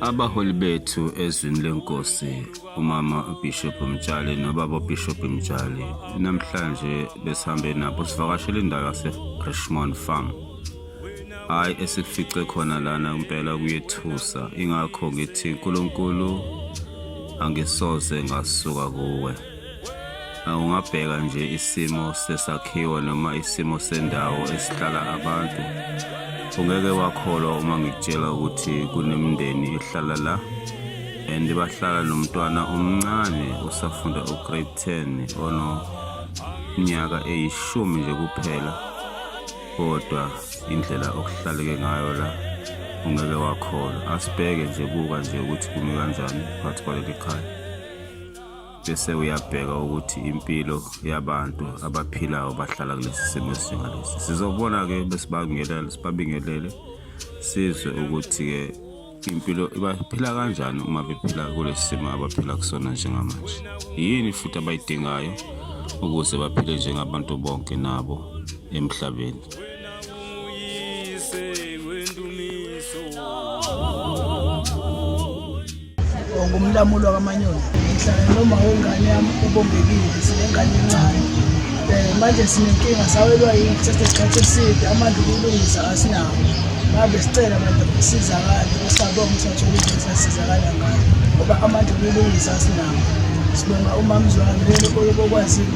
Abaholi bethu ezwini lenkosi umama uBishop Mtshali nobaba uBishop Mtshali namhlanje besihambe nabo sivakashela indawo yaseRichmond Farm hayi esikufice khona lana impela kuyethusa ingakho ngithi uNkulunkulu angisoze ngasuka kuwe ungabheka nje isimo sesakhiwo noma isimo sendawo esihlala abantu ungeke wakholwa uma ngikutshela ukuthi kunemindeni ehlala la and bahlala nomntwana omncane usafunda ugrade 10 ono nyaka eyishumi nje kuphela kodwa indlela okuhlaleke ngayo la ungeke wakholwa asibheke nje buka nje ukuthi kumi kanjani phakathi kwaleli khaya bese uyabheka ukuthi impilo yabantu abaphilayo bahlala kulesi simo esinjengalesi sizobona-ke besibabingelele sibabingelele sizwe ukuthi-ke impilo baphila kanjani uma bephila kulesi simo abaphila kusona njengamanje yini futhi abayidingayo ukuze baphile njengabantu bonke nabo emhlabeni ngumlamulo wakamanyoni ngihlala noma wengane yami obombekile sinengane encane um manje sinenkinga sawelwa yini kuthatha isikhathi eside amandla ukulungisa asinawo ngabe sicela abantu ukusizakale usabonga usathola into esasizakala ngayo ngoba amandla ukulungisa asinawo sibonga umamzwami lelo oyobokwazile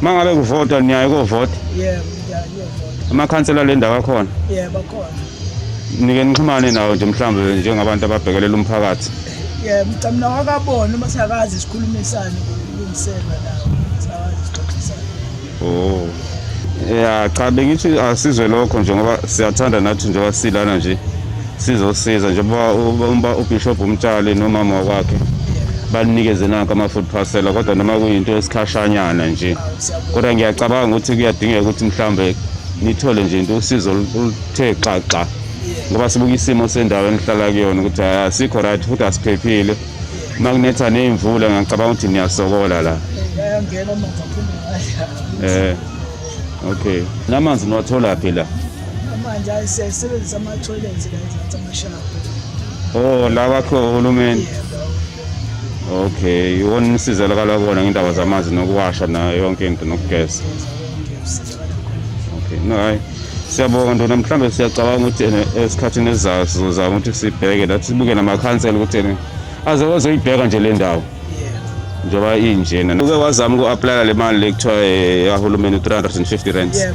Uma ngabe kuvota niyaye kovota? Yebo, ngiyayovota. Amakhansela le ndawo akhona? Yebo, akhona. Nike nixhumane nawo nje mhlawumbe njengabantu ababhekelela umphakathi. Yebo, ngicela nawo akabone uma sakazi sikhulumisane kulungisela nawo. Sakazi sixoxisane. Oh. Ya cha bengithi asizwe lokho nje ngoba siyathanda nathi njengoba silana nje. sizosiza njengoba umba ubishop umtshali nomama wakwakhe banikeze nanka ama-food parcela kodwa noma kuyinto esikhashanyana nje kodwa ngiyacabanga ukuthi kuyadingeka ukuthi mhlawumbe nithole nje into usizo oluthe xaxa ngoba sibuka isimo sendawo enihlala kuyona ukuthi asikho ah, right futhi asiphephile uma kunetha ney'mvula ngiyacabanga ukuthi niyasokola la um okay namanzi niwatholaphi la Manje siyasebenzisa ama-toilets la eZansi amashawa. Oh, la kwakhiwa uhulumeni. Okay, iwona umsizela kalakona ngendaba zamanzi nokuwasha nayo yonke into nokugeza. Okay, no hayi. Siyabonga ndona mhlambe siyacabanga ukuthi ene esikhathini esizayo sizozama ukuthi sibheke nathi sibuke namakhansela ukuthi ene aze wazoyibheka nje le ndawo. Njengoba injena. Uke wazama uku-aplaya le mali le kuthiwa eh, yahulumeni 350 rands. Yeah,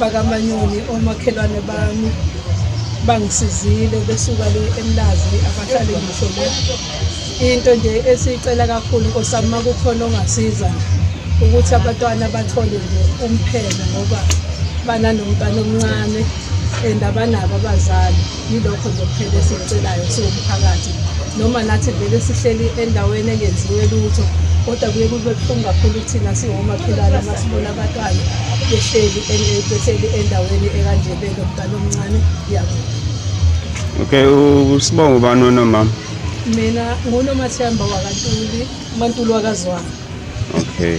bakamanyoni omakhelwane bami bangisizile besuka le emlazi abahlale ngisho le into nje esiyicela kakhulu nkosami uma kukhona ongasiza ukuthi abatwana bathole nje umphelo ngoba bananomntwana omncane and abanabo abazali Yilokho nje kuphela esikucelayo siwumphakathi noma nathi vele sihleli endaweni engenziwe lutho kodwa kuye kube buhlungu kakhulu kuthina singomakhelwane uma sibona abatwana behleli behleli endaweni ekanje belo mntana omncane yabo okay usibonga ubani wena mama mina ngunomathemba wakantuli umantuli wakazwana okay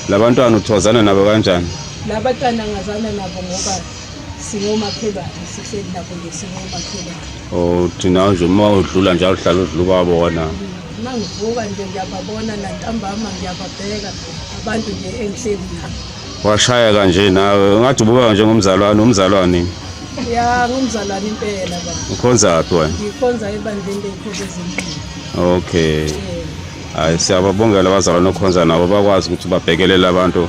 labantwana uthozana nabo kanjani labantwana ngazana nabo ngoba singomakhelwane sihleli nabo nje singomakhelwane oh thina nje uma udlula njalo uhlala udlula ubabona uma ngivuka nje ngiyababona nantambama ngiyababheka abantu nje engihleli nabo washayeka nje nawe ungathi ubukeka njengomzalwane umzalwane ya ngumzalwane impela ba ukhonzaphi wena ngikhonza ebandleni lenkosi ezimpilo okay hayi siyababongela abazalwane okhonza nabo bakwazi ukuthi babhekelele abantu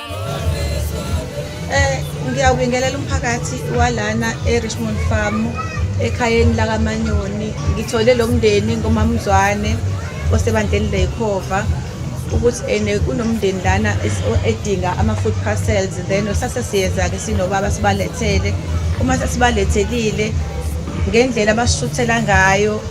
Eh ngiyawubingelela umphakathi walana e-Richmond Farm ekhayeni lakaManyoni. Ngithole lo mndeni ngomamzwane osebandleni lekhova ukuthi ene kunomndeni lana edinga ama-food parcels then sase siyeza-ke sinobaba sibalethele uma sesibalethelile ngendlela abasishuthela ngayo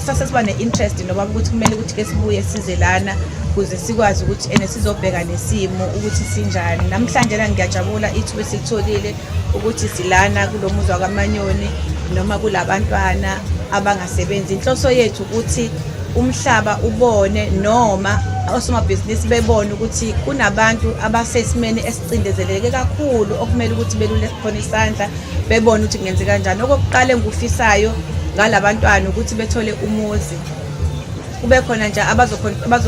sase siba ne-interest noba ukuthi kumele ukuthi ke sibuye size lana ukuze sikwazi ukuthi ene sizobheka nesimo ukuthi sinjani namhlanje la ngiyajabula ithuba esilitholile ukuthi silana kulo muzwa kamanyoni noma kulabantwana abangasebenzi inhloso yethu ukuthi umhlaba ubone noma osomabhizinisi bebone ukuthi kunabantu abasesimeni cindezeleke kakhulu okumele ukuthi belule khona isandla bebone ukuthi kungenze kanjani okokuqala engikufisayo ngalabantwana ukuthi bethole umuzi kube khona nje abazokwazi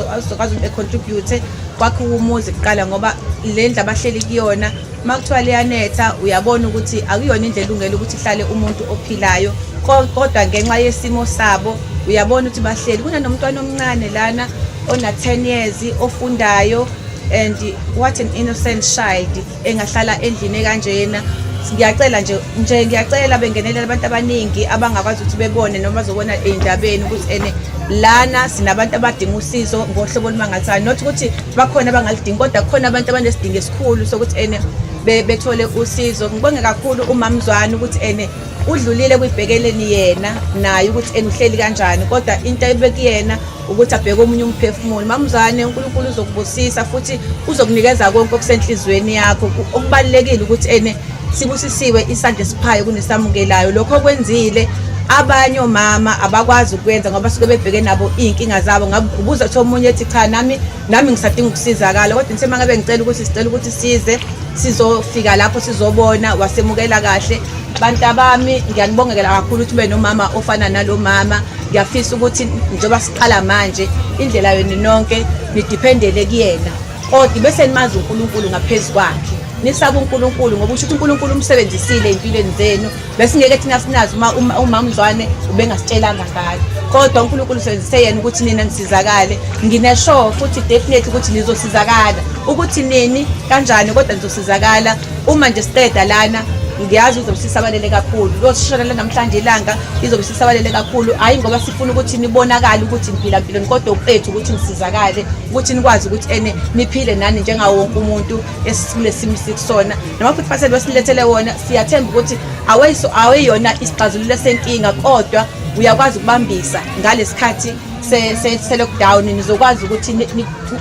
ukuthi becontribute kwakhe umuzi kuqala ngoba le ndlu abahleli kuyona uma kuthiwa liyanetha uyabona ukuthi akuyona indlela elungele ukuthi ihlale umuntu ophilayo kodwa ngenxa yesimo sabo uyabona ukuthi bahleli kunanomntwana omncane lana ona-10 years ofundayo and what an innocent child engahlala endlini ekanjena ngiyacela nje nje ngiyacela bengenelela abantu abaningi abangakwazi ukuthi bebone noma zobona ey'ndabeni ukuthi ene lana sinabantu abadinga usizo ngohlobo olumangathayo not ukuthi bakhona abangalidingi kodwa kukhona abantu abanesidingo esikhulu sokuthi ene bethole usizo ngibonge kakhulu umamzwana ukuthi ene udlulile kwibhekeleni yena naye ukuthi ene uhleli kanjani kodwa into ebekuyena ukuthi abheke omunye umphefumulo mamzane uNkulunkulu uzokubusisa futhi uzokunikeza konke okusenhlizweni yakho okubalekile ukuthi ene sibusisiwe isandla esiphayo kunesamukelayo lokho okwenzile abanye omama abakwazi ukwenza ngoba suke bebheke nabo iy'nkinga zabo ngabuza kuthiwa omunye ethi cha nami nami ngisadinga ukusizakala kodwa ngithe mangabe ngicela ukuthi sicela ukuthi size sizofika lapho sizobona wasemukela kahle bantabami ngiyanibongekela kakhulu ukuthi ube nomama ofana nalo mama ngiyafisa ukuthi njengoba siqala manje indlela yenu nonke nidiphendele kuyena kodwa bese nimazi uNkulunkulu ngaphezu kwakhe nisaba uNkulunkulu ngoba usho ukuthi uNkulunkulu umsebenzisile empilweni zenu besingeke thina sinazi uma umama Mzwane ubengasitshelanga ngalo kodwa uNkulunkulu usebenzise yena ukuthi nina nisizakale nginesho futhi definitely ukuthi nizosizakala ukuthi nini kanjani kodwa nizosizakala uma nje siqeda lana ngiyazi uzobe sisabalele kakhulu losishonela namhlanje ilanga izobe sisabalele kakhulu hhayi ngoba sifuna ukuthi nibonakale ukuthi niphila mpilo kodwa ukwethu ukuthi nisizakale ukuthi nikwazi ukuthi ene niphile nani njengawo wonke umuntu esikule simo sikusona noma futhi fasele besilethele wona siyathemba ukuthi aweyona isixazululo esenkinga kodwa uyakwazi ukubambisa ngalesikhathi se-lockdown nizokwazi ukuthi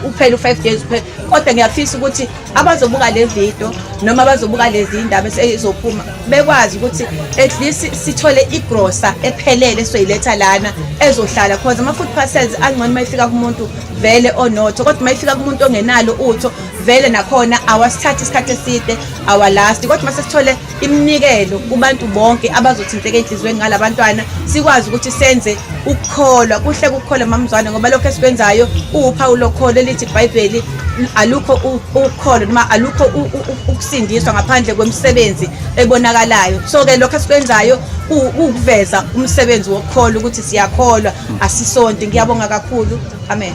uphele u-five days kuphela kodwa ngiyafisa ukuthi abazobuka le video noma abazobuka lezi indaba ezizophuma bekwazi ukuthi at least sithole igrosa ephelele soyiletha lana ezohlala cause ama food parcels angcono mayifika kumuntu vele onotho kodwa mayifika kumuntu ongenalo utho vele nakhona awasithathi isikhathi eside awalasti kodwa masesithole iminikelo kubantu bonke abazothinteka enhliziyweni ngala bantwana sikwazi ukuthi senze ukukholwa kuhle kukholwa mamzwane ngoba lokho esikwenzayo kuwuphawu lokholo elithi ibhayibheli alukho ukholo noma alukho ukusindiswa ngaphandle kwemisebenzi ebonakalayo so ke lokho esikwenzayo ukuveza umsebenzi wokukholo ukuthi siyakholwa asisonti ngiyabonga kakhulu amen